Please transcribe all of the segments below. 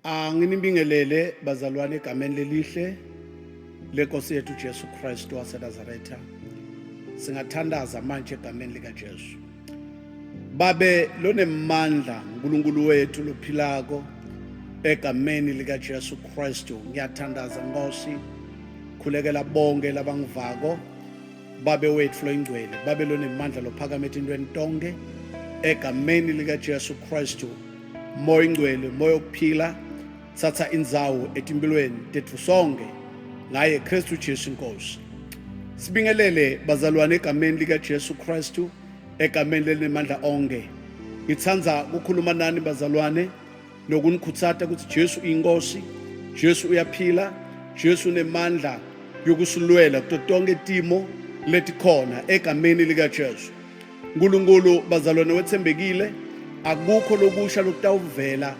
Anginibingelele ah, bazalwane egameni lelihle lenkosi yethu Jesu Kristu waseNazaretha. Singathandaza manje egameni likaJesu. Babe lonemandla uNkulunkulu wethu lophilako egameni likaJesu Kristu ngiyathandaza Nkosi khulekela bonke labangivako babe wethu loyingcwele babe lonemandla lophakama etintweni tonke egameni likaJesu Kristu moya ingcwele moya okuphila thatha indzawo etimpilweni tetfu sonke ngaye kristu jesu inkosi sibingelele bazalwane egameni likajesu kristu egameni lelinemandla onke ngithanda kukhuluma nani bazalwane nokunikhutsata ukuthi jesu uyinkosi jesu uyaphila jesu unemandla yokusilwela kuto tonke timo letikhona egameni likajesu Nkulunkulu bazalwane wethembekile akukho lokusha lokutawuvela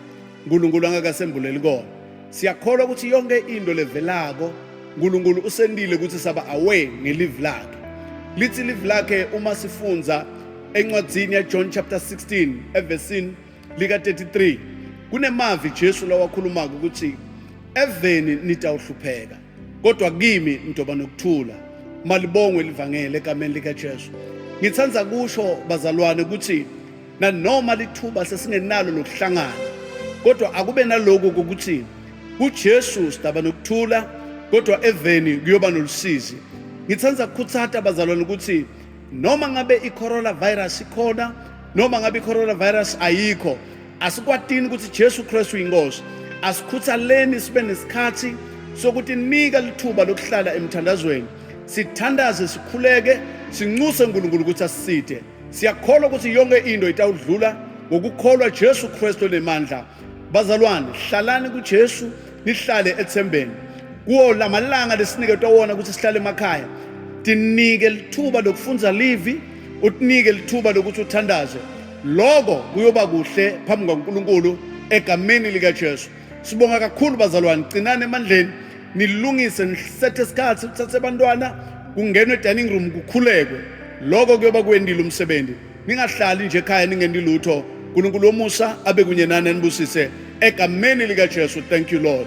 uNkulunkulu angakasembuleli kona siyakholwa ukuthi yonke into levelako uNkulunkulu usendile ukuthi saba away ngelive lakhe lithi live lakhe uma sifunza encwadzini yaJohn chapter 16 evesini lika-33 kunemavi Jesu lawakhulumaka ukuthi eveni nitawuhlupheka kodwa kimi nitoba nokuthula malibongwe livangele egameni likaJesu ngithanda kusho bazalwane ukuthi nanoma lithuba sesingenalo lokuhlangana kodwa akube naloku ukuthi kuJesu sidaba nokuthula kodwa eveni kuyoba nolusizi ngithanda ukukhuthata bazalwane ukuthi noma ngabe i-coronavirus ikhona noma ngabe i-coronavirus ayikho asikwatini ukuthi Jesu Kristu inkosi asikhuthaleni sibe nesikhathi sokuthi nika lithuba lokuhlala emthandazweni sithandaze sikhuleke sinxuse uNkulunkulu ukuthi asisithe siyakholwa ukuthi yonke into itawudlula ngokukholwa Jesu Kristu nemandla bazalwane hlalani kuJesu nihlale ethembeni kuwo lamalanga lesiniketwa wona ukuthi sihlale emakhaya tinike lithuba lokufundza livi utinike lithuba lokuthi uthandaze loko kuyoba kuhle phambi kwaNkulunkulu egameni likaJesu sibonga kakhulu bazalwane cinani emandleni nilungise nisethe isikhathi uthathe abantwana kungenwe dining room kukhulekwe loko kuyoba kwendile umsebenzi ningahlali nje ekhaya ningeni lutho uNkulunkulu womusa abe kunye nani anibusise egameni lika Jesu thank you lord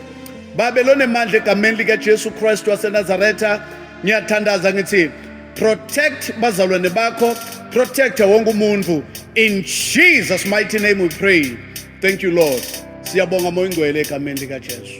babe lonemandla egameni lika Jesu Christ waseNazaretha ngiyathandaza ngithi protect bazalwane bakho protect wonke umuntu in Jesus mighty name we pray thank you lord siyabonga moyingcwele egameni lika Jesu